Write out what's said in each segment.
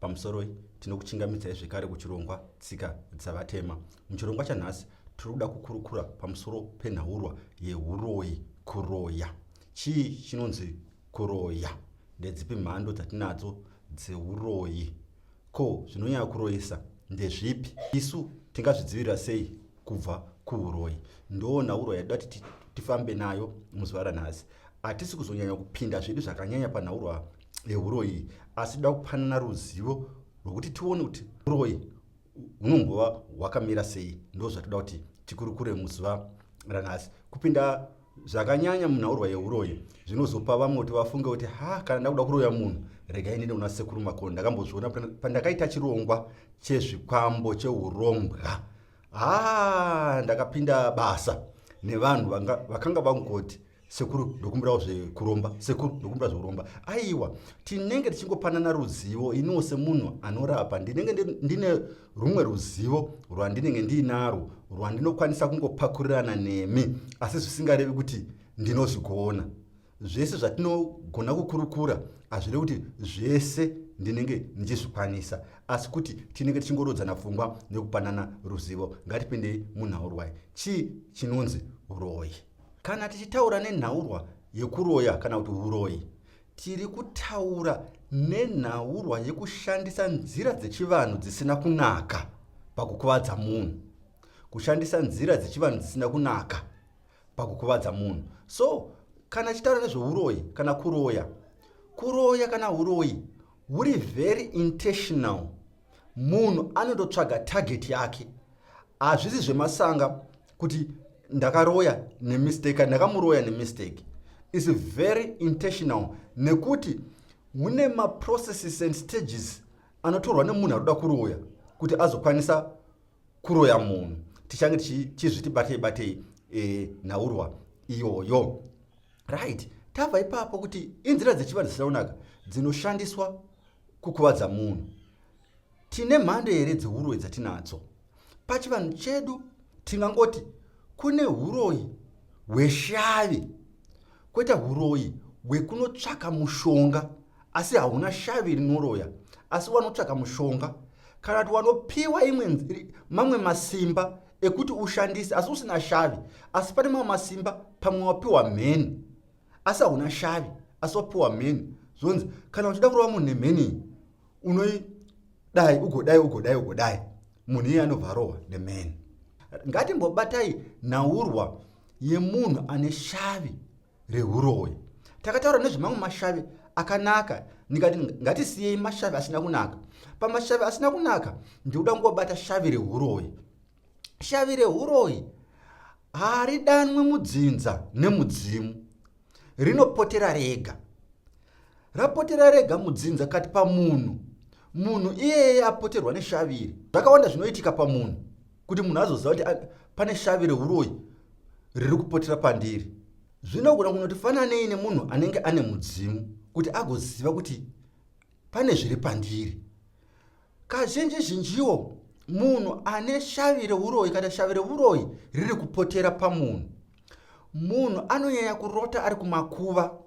Pamusoroi tinokuchingamidzai zvekare kuchirongwa Tsika dzaVatema. Muchirongwa chanhasi tiri kuda kukurukura pamusoro penhaurwa yehuroyi kuroya. Chii chinonzi kuroya? Ndedzipi mhando dzatinadzo dzeuroyi? Ko zvinonyaya kuroyesa ndezvipi? Isu tingazvidzivirira sei kubva kuuroyi? Ndoo nhaurwa yatida kuti tifambe nayo muzuva ranhasi. Hatisi kuzonyanya kupinda zvedu zvakanyanya panhaurwa yehuroyi asi toda kupanana ruzivo rwekuti tione kuti uroyi hunombova hwakamira sei ndo zvatoda kuti tikurukure muzuva ranhasi kupinda zvakanyanya munhaurwa yeuroyi zvinozopa vamwe kuti vafunge kuti ha kana ndakuda kuroya munhu regai nene una sekuru makoni ndakambozviona pandakaita chirongwa chezvikwambo cheurombwa ha ndakapinda basa nevanhu vakanga vangoti sekuru ndokumbirawo zvekuromba sekuru ndokumbira zvekuromba aiwa tinenge tichingopanana ruzivo iniwo semunhu anorapa ndinenge ndine rumwe ruzivo rwandinenge ndiinarwo rwandinokwanisa kungopakurirana nemi asi zvisingarevi kuti ndinozvigona zvese zvatinogona kukurukura hazvirevi kuti zvese ndinenge ndichizvikwanisa asi kuti tinenge tichingorodzana pfungwa nekupanana ruzivo ngatipindei munhaurwai chii chinonzi uroyi Kana tichitaura nenhaurwa yekuroya kana kuti uroyi, tiri kutaura nenhaurwa yekushandisa nzira dzechivanhu dzisina kunaka pakukuvadza munhu. Kushandisa nzira dzechivanhu dzisina kunaka pakukuvadza munhu. So, kana tichitaura nezveuroyi kana kuroya, kuroya kana uroyi huri very intentional. Munhu anototsvaga target yake. Hazvisi zvemasanga kuti ndakaroya nemistake ndakamuroya nemistake is very intentional nekuti mune maprocesses and stages anotorwa nemunhu ari kuda kuroya kuti azokwanisa kuroya munhu tichange tichizviti batei batei e, nhaurwa iyoyo right tava ipapo kuti inzira dzechivanhu dzisina kunaka dzinoshandiswa kukuvadza munhu Tine mhando here dzeuroyi dzatinadzo? Pachivanhu chedu tingangoti kune uroyi hweshavi kweta uroyi hwekunotsvaka mushonga asi hauna shavi rinoroya asi wanotsvaka mushonga kana kuti wanopiwa mamwe masimba ekuti ushandise asi usina shavi asi pane mamwe masimba pamwe wapiwa mheni asi hauna shavi asi wapiwa mheni zvonzi kana uchida kurova munhu nemheni unoidai ugodai ugodai ugodai munhu iye anobva arohwa neman ngatimbobatai nhaurwa yemunhu ane shavi reuroyi takataura nezvemamwe mashavi akanaka ndikati ngatisiyei mashavi asina kunaka pamashavi asina kunaka ndikuda kungobata shavi reuroyi shavi reuroyi haridanwe mudzinza nemudzimu rinopotera rega rapotera rega mudzinza kati pamunhu munhu iyeye apoterwa neshaviri zvakawanda zvinoitika pamunhu kuti munhu azoziva kuti ah, pane shavi reuroyi riri kupotera pandiri zvinogona kunoti fananei nemunhu anenge ane mudzimu kuti agoziva kuti pane zviri pandiri. Kazhinji zhinjiwo munhu ane shavi reuroyi kana shavi reuroyi riri kupotera pamunhu munhu anonyanya kurota ari kumakuva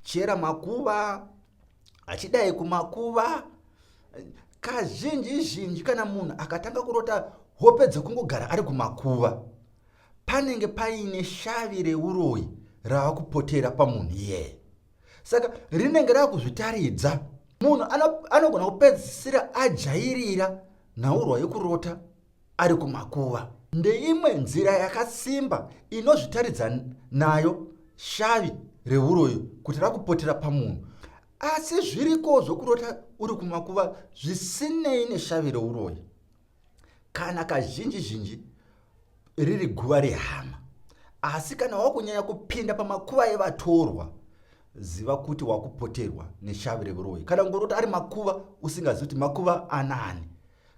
chera makuva achidai kumakuva kazhinji zhinji kana munhu akatanga kurota hope dzekungogara ari kumakuva panenge paine shavi reuroyi rava kupotera pamunhu iyeye saka rinenge rava kuzvitaridza munhu anogona kupedzisira ajairira nhaurwa yokurota ari kumakuva ndeimwe nzira yakasimba inozvitaridza nayo shavi reuroyi kuti rakupotera pamunhu asi zviriko zvokurota uri kumakuva zvisinei neshavi reuroyi kana kazhinji zhinji riri guva rehama asi kana wakunyanya kupinda pamakuva evatorwa ziva kuti wakupoterwa neshavi revuroyi kana kungoroti ari makuva usingazivi kuti makuva anani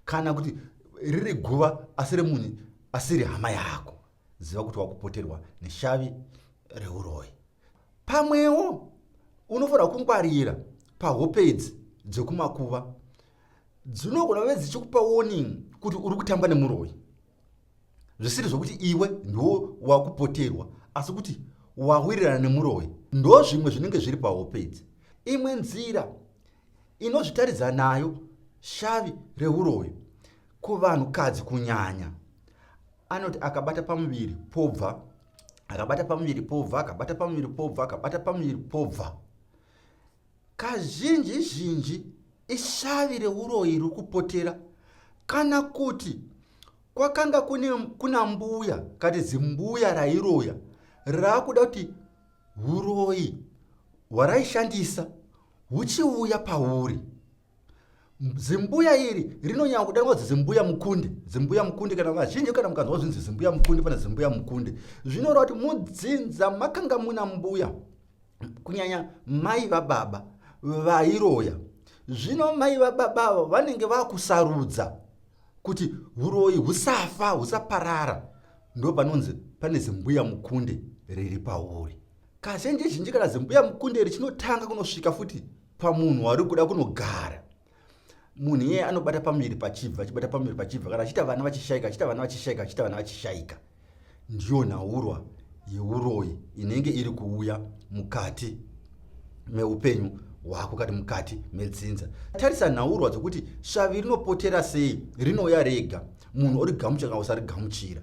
kana kuti riri guva asi remunhu asiri hama yako ziva kuti wakupoterwa neshavi reuroyi pamwewo unofanira kungwarira pahope idzi dzekumakuva dzinogona kuve dzichikupa warning kuti uri kutamba nemuroyi zvisiri zvokuti iwe ndiwo wakupoterwa asi kuti wawirirana nemuroyi ndo zvimwe zvinenge zviri pahope idzi imwe nzira inozvitaridza nayo shavi reuroyi kuvanhukadzi kunyanya anoti akabata pamuviri pobva akabata pamuviri pobva akabata pamuviri pobva akabata pamuviri pobva Kazhinji zhinji ishavi reuroyi riri kupotera kana kuti kwakanga kune kuna mbuya kati zimbuya rairoya raakuda kuti uroyi hwaraishandisa huchiuya pauri. zimbuya iri rinonyanya kudanwa kuti zimbuya mukundi zimbuya mukundi kana vazhinji kana mukanzwa zvinzi zimbuya mukundi pana zimbuya mukundi zvinoreva kuti mudzinza makanga muna mbuya kunyanya mai vababa vairoya zvino mai vababa avo vanenge vakusarudza kuti uroyi husafa husaparara ndo panonzi pane zimbuya mukundi riri pauri kazhinji zhinji kana zimbuya mukundi iri chinotanga kunosvika futi pamunhu wauri kuda kunogara munhu iyeye anobata pamuviri pachibva achibata pamuviri pachibva kana achiita vana vachishaika achiita vana vachishaika achiita vana vachishaika ndiyo nhaurwa yeuroyi inenge iri kuuya mukati meupenyu hwako kati mukati medzinza tarisa nhaurwa dzokuti shavi rinopotera sei rinouya rega munhu origamuchira kana usarigamuchira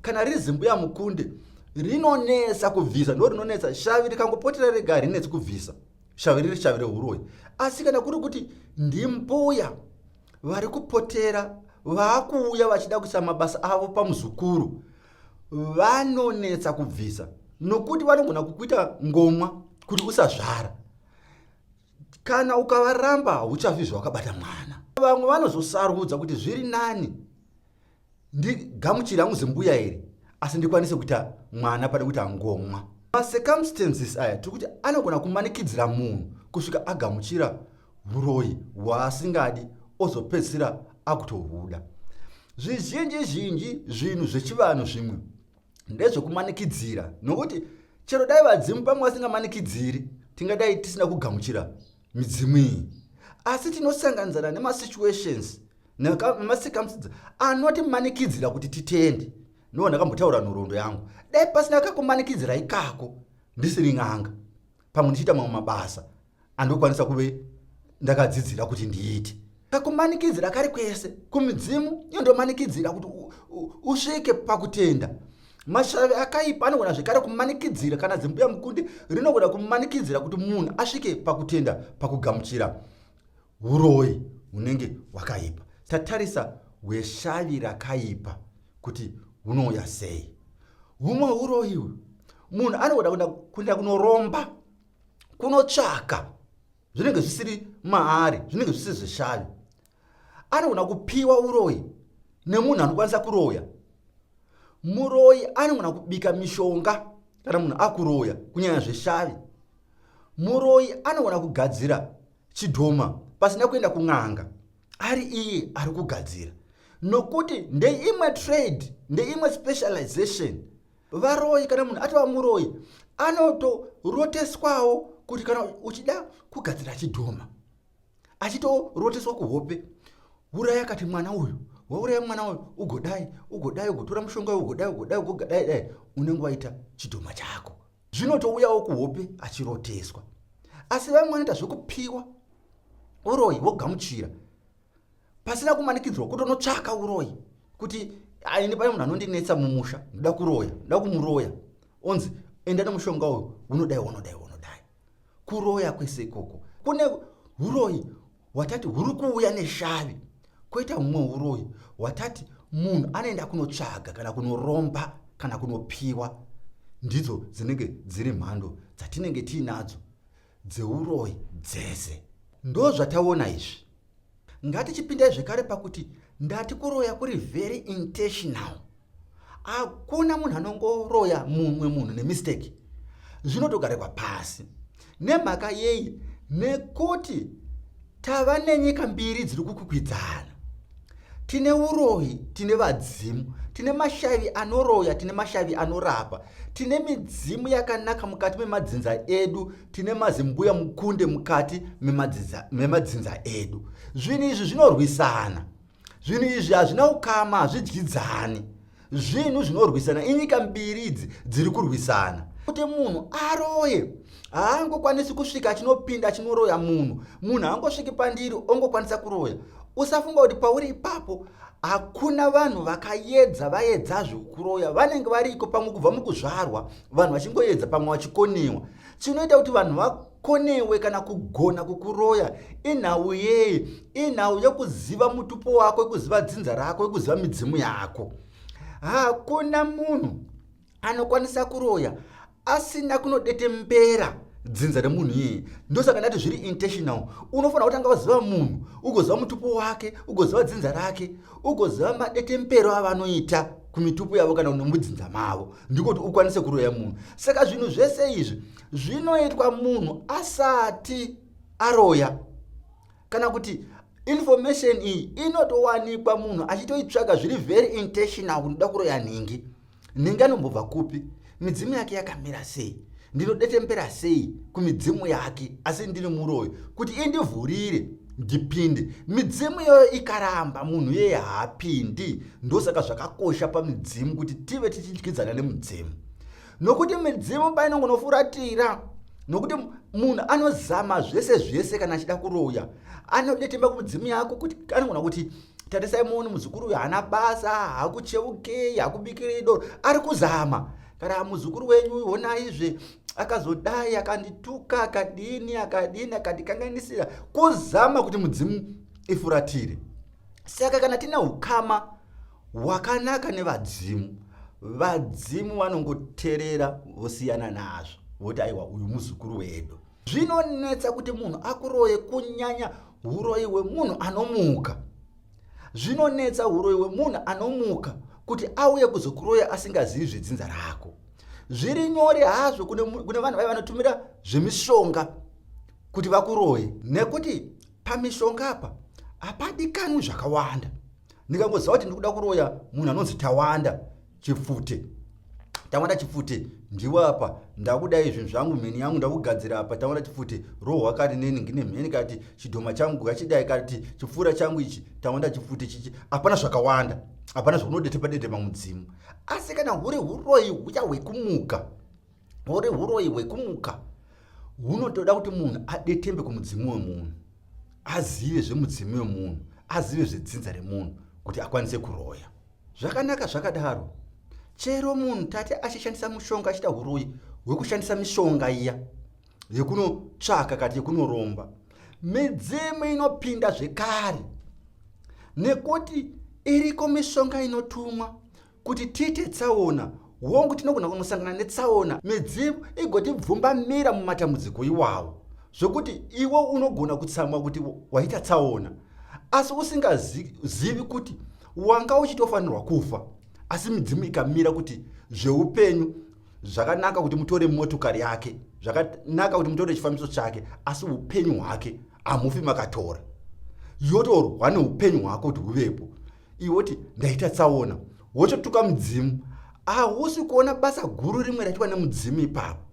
kana riri zimbuya mukunde rinonetsa kubvisa ndo rinonetsa shavi rikangopotera rega harinetsi kubvisa Shavi riri shavi rehuroyi. Asi kana kuri kuti ndimbuya vari kupotera vaakuuya vachida kuisa mabasa avo pamuzukuru vanonetsa kubvisa nokuti vanogona kukuita ngomwa kuti usazvara kana ukavaramba hauchafi zvawakabata mwana vamwe vanozosarudza kuti zviri nani ndigamuchira hangu zimbuya iri asi ndikwanise kuita mwana pane kuti angomwa macircumstances aya tiri kuti anogona kumanikidzira munhu kusvika agamuchira uroyi hwaasingadi ozopedzisira akutohuda zvizhinji zhinji zvinhu zvechivanhu zvimwe ndezvekumanikidzira nokuti chero dai vadzimu pamwe vasingamanikidziri tingadai tisina kugamuchira midzimu iyi asi tinosanganidzana nemasituations nemasikamsidza anotimanikidzira kuti titende no ndakambotaura nhoroondo yangu dai pasina kakumanikidzira ikako ndisiri n'anga pamwe ndichiita mamwe mabasa andokwanisa kuve ndakadzidzira kuti ndiite kakumanikidzira kari kwese kumidzimu iyo ndomanikidzira kuti usvike pakutenda mashavi akaipa anogona zvekare kumanikidzira kana zimbuya mukundi rinogona kumanikidzira kuti munhu asvike pakutenda pakugamuchira uroyi unenge wakaipa tatarisa hweshavi rakaipa kuti hunouya sei humwe uroyi uyu munhu anogona kuenda kunoromba kunotsvaka zvinenge zvisiri maari zvinenge zvisiri zveshavi anogona kupiwa uroyi nemunhu anokwanisa kuroya muroyi anogona kubika mishonga kana munhu akuroya kunyanya zveshavi muroyi anogona kugadzira chidhoma pasina kuenda kun'anga ari iye ari kugadzira nokuti ndeimwe trade ndeimwe specialization varoyi kana munhu atova muroyi anotoroteswawo kuti kana uchida kugadzira chidhoma achitoroteswa kuhope uraya kati mwana uyu wauraya mwana uyu ugodai ugodai ugotora mushonga uyu ugodai ugodai ugogadai dai unenge waita chidhoma chako zvinotouyawo kuhope achiroteswa asi vamwe vanoita zvekupiwa uroyi wogamuchira pasina kumanikidzwa kutonotsvaka uroyi kuti aini pane munhu anondinetsa mumusha ndoda kuroya ndoda kumuroya onzi enda nemushonga uyu unodai unodai unodai kuroya kwese ikoko kune uroyi watati huri kuuya neshavi kwoita humwe uroyi watati munhu anoenda kunotsvaga kana kunoromba kana kunopiwa ndidzo dzinenge dziri mhando dzatinenge tiinadzo dzeuroyi dzese ndozvataona izvi ngatichipindai zvekare pakuti ndati kuroya kuri very intentional hakuna munhu anongoroya mumwe munhu nemistake zvinotogarekwa pasi nemhaka yei nekuti Tava nenyika mbiri dziri kukwikwidzana. Tine uroyi, tine vadzimu, tine mashavi anoroya, tine mashavi anorapa, tine midzimu yakanaka mukati memadzinza edu, tine mazimbuya mukunde mukati memadzinza edu. Zvinhu izvi zvinorwisana. zvinhu izvi hazvina ukama hazvidyidzani zvinhu zvinorwisana inyika mbiri idzi dziri kurwisana kuti munhu aroye haangokwanisi kusvika achinopinda achinoroya munhu munhu haangosviki pandiri ongokwanisa kuroya usafunga kuti pauri ipapo hakuna vanhu vakayedza vayedza zvekuroya vanenge variko pamwe kubva mukuzvarwa vanhu vachingoyedza pamwe vachikoniwa chinoita kuti vanhu va ko newe kana kugona kukuroya inhau yei inhau yekuziva mutupo wako yekuziva dzinza rako yekuziva midzimu yako hakuna munhu anokwanisa kuroya asina kunodete mbera dzinza remunhu iyeye ndosaka ndati zviri intentional unofanira kutanga waziva munhu ugoziva mutupo wake ugoziva dzinza rake ugoziva madetempero avanoita kumitupo yavo kana nemudzinza mavo ndikuti ukwanise kuroya munhu saka zvinhu zvese izvi zvinoitwa munhu asati aroya kana kuti information iyi inotowanikwa munhu achitoitsvaga zviri very intentional kunoda kuroya nhingi nhingi anombobva kupi midzimu yake yakamira sei ndinodetembera sei kumidzimu yake asi ndiri muroyi kuti indivhurire ndipinde midzimu iyoyo ikaramba munhu yeye haapindi ndosaka zvakakosha pamidzimu kuti tive tichidyidzana nemudzimu nokuti midzimu painongonofuratira nokuti munhu anozama zvese zvese kana achida kuroya anodetemba kumidzimu yako kuti anogona kuti tarisai muoni muzukuru uyu haana basa hakucheukei hakubikirei doro ari kuzama kana muzukuru wenyu honaizve akazodai akandituka akadini akadini akandikanganisira kuzama kuti mudzimu ifuratire saka kana tine ukama hwakanaka nevadzimu vadzimu vanongoterera vosiyana nazvo voti aiwa uyu muzukuru wedu zvinonetsa kuti munhu akuroye kunyanya uroyi hwemunhu anomuka zvinonetsa uroyi hwemunhu anomuka kuti auye kuzokuroya asingazivi zvedzinza rako zviri nyore hazvo kune vanhu vaiva vanotumira zvemishonga kuti vakuroye nekuti pamishonga apa hapadikanwi zvakawanda ndikangoziva kuti ndikuda kuroya munhu anonzi tawanda chipfute tawanda chipfute ndiwe apa ndakudai zvinhu zvangu mheni yangu ndakugadzira apa tawanda chipfute rohwa kari neni ngine mheni kati chidhoma changu kachidai kati chipfuura changu ichi tawanda chipfute chichi hapana zvakawanda hapana zvakunodete padete mamudzimu asi kana huri uroyi huya hwekumuka ore huroyi hwekumuka hunotoda kuti munhu adetembe kumudzimu wemunhu azive zvemudzimu wemunhu azive zvedzinza remunhu kuti akwanise kuroya zvakanaka zvakadaro chero munhu tate achishandisa mushonga achiita huroyi hwekushandisa mishonga iya yekunotsvaka kati yekunoromba midzimu inopinda zvekare nekuti iriko mishonga inotumwa Kuti tiite tsaona, hongu tinogona kunosangana netsaona midzimu igotibvumbamira mumatambudziko iwawo zvokuti iwe unogona kutsamwa kuti waita tsaona asi usingazivi kuti wanga uchitofanirwa kufa asi midzimu ikamira kuti zveupenyu zvakanaka kuti mutore motokari yake zvakanaka kuti mutore chifambiso chake asi upenyu hwake hamufi makatora yotorwa neupenyu hwako kuti huvepo iwe woti ndaita tsaona wototuka mudzimu hausi ah, kuona basa guru rimwe raitwa nemudzimu ipapo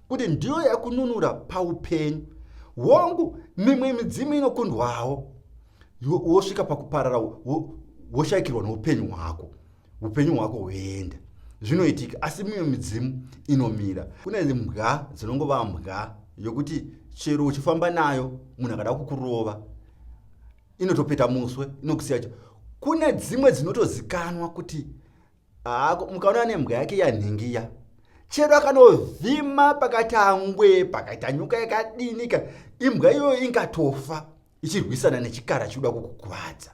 kuti ndiyo yakununura paupenyu hongu mimwe midzimu inokundwawo wosvika pakuparara woshaikirwa noupenyu hwako upenyu hwako hwoenda zvinoitika asi mimwe midzimu inomira kune mbwa dzinongova mbwa yokuti chero uchifamba nayo munhu akada kukurova inotopeta muswe inokusiya cho kune dzimwe dzinotozikanwa kuti haako mukaona nembwa yake yanhingiya chero akanovhima pakati angwe pakaita nyuka yakadinika imbwa iyoyo ingatofa ichirwisana nechikara chikuda kukukuvadza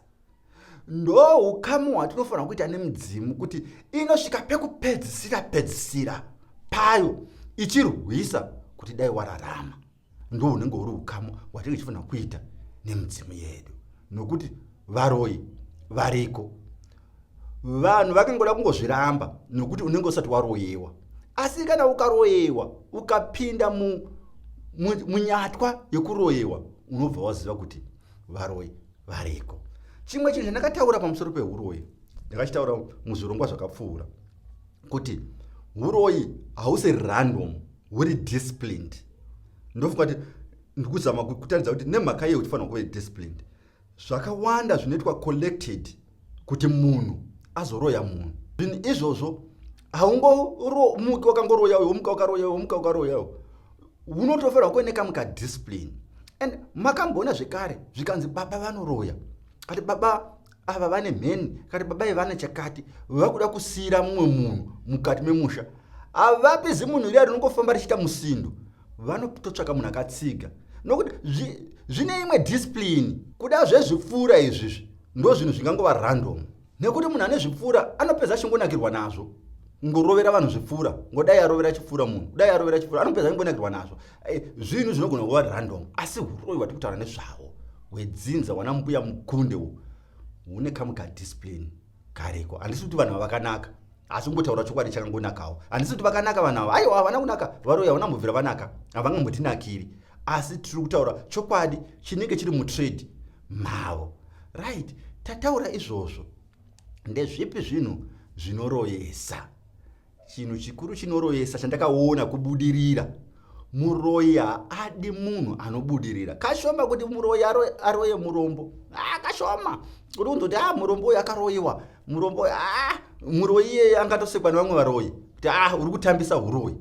ndo ukamu hwatinofanira kuita nemudzimu kuti inosvika pekupedzisira pedzisira payo ichirwisa kuti dai wararama ndo hunenge huri ukama hwatinenge tichifanira kuita nemidzimu yedu nokuti varoyi variko vanhu vakangoda kungozviramba nokuti unenge usati waroyewa asi kana ukaroyewa ukapinda munyatwa mu, mu yekuroyewa unobva waziva kuti varoyi variko chimwe chinhu chandakataura pamusoro peuroyi ndakachitaura muzvirongwa zvakapfuura kuti uroyi hausi random uri disciplined ndofunga kuti ndikuzama kutaridza kuti nemhaka yei uchifanira kuve disciplined zvakawanda zvinoitwa collected kuti munhu azoroya munhu zvinhu izvozvo haungoromuki wakangoroya uyo womuka wakaroya uyo womuka wakaroya uyo unotofanira kuve nekamuka discipline and makamboona zvekare zvikanzi baba vanoroya ati baba ava vane mheni kati baba ivana chakati vakuda kusiyira mumwe munhu mukati memusha avapi zimunhu riya rinongofamba richiita musindo vanototsvaka munhu akatsiga nokuti zvine imwe discipline kuda zvezvipfuura izvizvi ndo zvinhu zvingangova random nekuti munhu ane zvipfuura anopedza achingonakirwa nazvo ngorovera vanhu zvipfuura ngodai arovera chipfuura munhu kudai arovera chipfuura anopedza achingonakirwa nazvo Eh, zvinhu zvinogona kuva random asi uroyi wati kutaura nezvavo hwedzinza wana mbuya mukunde u une kamwe kadiscipline kariko handisi kuti vanhu vavakanaka asi kungotaura chokwadi chakangonakawo handisi kuti vakanaka vanhu ava aiwa havana kunaka varoyi havana mbobvira vanaka havangambotinakiri asi tiri kutaura chokwadi chinenge chiri mutrade mavo right tataura izvozvo ndezvipi zvinhu zvinoroyesa chinhu chikuru chinoroyesa chandakaona kubudirira muroyi haadi munhu anobudirira kashoma kuti muroyi aroye murombo a ah, kashoma kuti kunzoti a ah, murombo uyu akaroyiwa murombo a ah, muroyi iyeye angatosekwa nevamwe varoyi kuti a uri kutambisa uroyi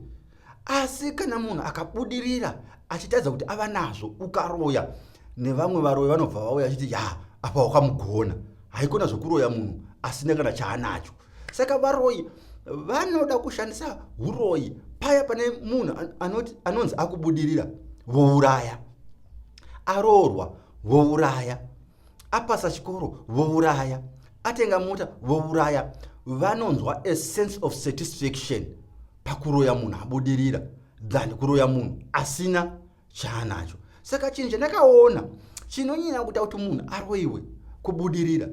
asi kana munhu akabudirira achitadza kuti ava nazvo ukaroya nevamwe varoyi vanobva vauya achiti ya apa wakamugona haikona zvokuroya munhu asina kana chaanacho saka varoyi vanoda kushandisa uroyi paya pane munhu anonzi akubudirira vouraya aroorwa vouraya apasa chikoro vouraya atenga mota vouraya vanonzwa a sense of satisfaction pakuroya munhu abudirira than kuroya munhu asina chaanacho saka chinhu chandakaona chinonyanya kuita kuti munhu aroiwe kubudirira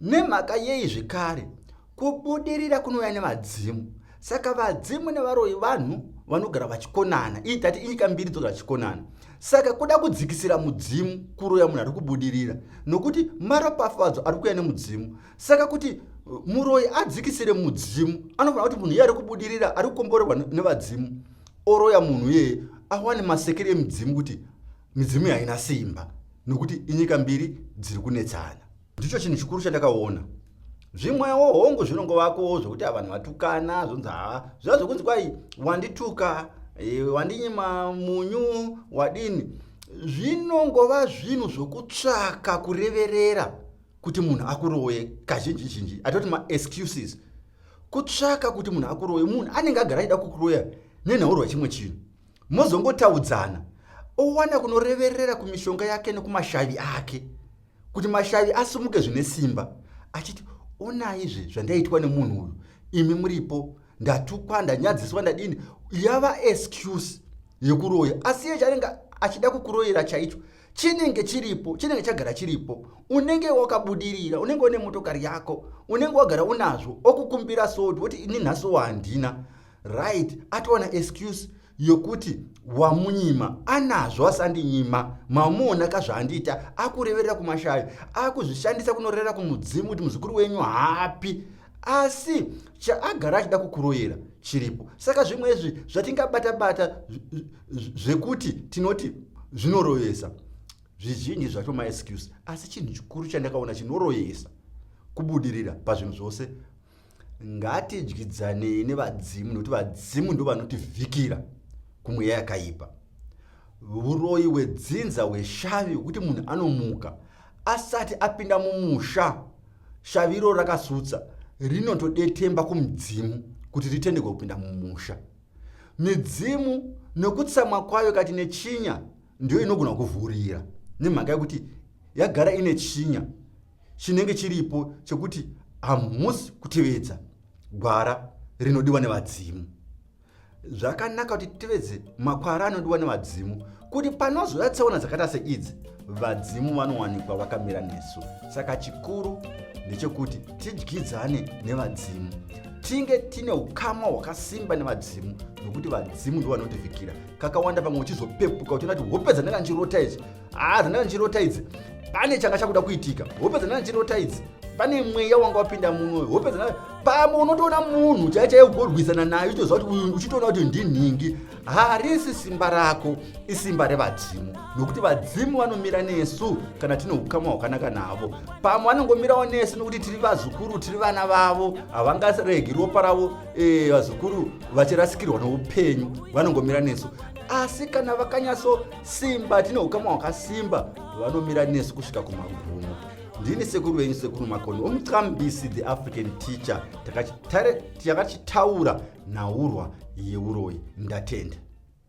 nemhaka yei zvekare kubudirira kunouya nevadzimu saka vadzimu nevaroi vanhu vanogara vachikonana ii tati inyika mbiri dzogara chikonana saka kuda kudzikisira mudzimu kuroya munhu ari kubudirira nokuti maropafadzo ari kuya nemudzimu saka kuti uh, muroyi adzikisire mudzimu anofanira kuti munhu iye ari kubudirira ari kukomborerwa nevadzimu oroya munhu iyeye awane masekere emidzimu kuti midzimu yaina simba nokuti inyika mbiri dziri kunetsana ndicho chinhu chikuru chandakaona zvimwewo hongu zvinongovakowo zvokuti avanhu vatukana zvonzi haa zviva zvokunzi kwai wandituka e, wandinyima munyu wadini zvinongova zvinhu zvokutsvaka kureverera kuti munhu akuroye kazhinji zhinji atoti maexcuses kutsvaka kuti munhu akuroye munhu anenge agara aida kukuroya nenhaurwa chimwe chinhu mozongotaudzana owana kunoreverera kumishonga yake nekumashavi ake kuti mashavi asumuke zvine simba achiti onaizve zvandaitwa nemunhu uyu imi muripo ndatukwa ndanyadziswa ndadini yava excuse yekuroya asi iye chaanenge achida kukuroyera chaicho chinenge chiripo chinenge chagara chiripo unenge wakabudirira unenge une motokari yako unenge wagara unazvo okukumbira soti woti ini nhasiwo handina right atowana excuse yokuti wamunyima anazvo asandinyima mamuona ka zvaandiita akureverera kumashavi akuzvishandisa kunorerera kumudzimu kuti muzukuru wenyu hapi asi chaagara achida kukuroyera chiripo saka zvimwe izvi zvatingabata bata zvekuti tinoti zvinoroyesa zvizhinji zvacho maexcuse asi chinhu chikuru chandakaona chinoroyesa kubudirira pazvinhu zvose ngatidyidzanei nevadzimu nokuti vadzimu ndo vanotivhikira kumweya yakaipa uroyi hwedzinza hweshavi hwekuti munhu anomuka asati apinda mumusha shavi iroro rakasutsa rinotodetemba kumudzimu kuti ritendekwe kupinda mumusha midzimu nokutsamwa kwayo kati nechinya ndiyo inogona kuvhurira nemhaka yekuti yagara ine chinya chinenge chiripo chekuti hamusi kutevedza gwara rinodiwa nevadzimu zvakanaka kuti titevedze makwara anodiwa nevadzimu kuti panozouya tsaona dzakata seidzi vadzimu vanowanikwa vakamira nesu saka chikuru ndechekuti tidyidzane nevadzimu tinge tine ukama hwakasimba nevadzimu nokuti vadzimu ndo vanotivhikira kakawanda pamwe uchizopepuka uchiona kuti hope dzandanga ndichirota idzi haa ah, dzandanga ndichirota idzi pane changa chakuda kuitika hope dzandanga ndichirota idzi pane mweya wanga wapinda muno hope dzandanga pamwe unotoona munhu chaichaiye kugorwisana nayo uchitoziva kuti uyu uchitoona kuti ndinhingi harisi simba rako isimba revadzimu nokuti vadzimu vanomira nesu kana tine ukama hwakanaka navo pamwe vanongomirawo nesu nokuti tiri vazukuru tiri vana vavo havangaregi ropa ravo e, vazukuru vachirasikirwa noupenyu vanongomira nesu asi kana vakanyatso simba tine ukama hwakasimba vanomira nesu kusvika kumagumo ndini sekuru venyu sekuru makoni omucambisi the african teacher takatare chakachitaura nhaurwa yeuroyi ndatenda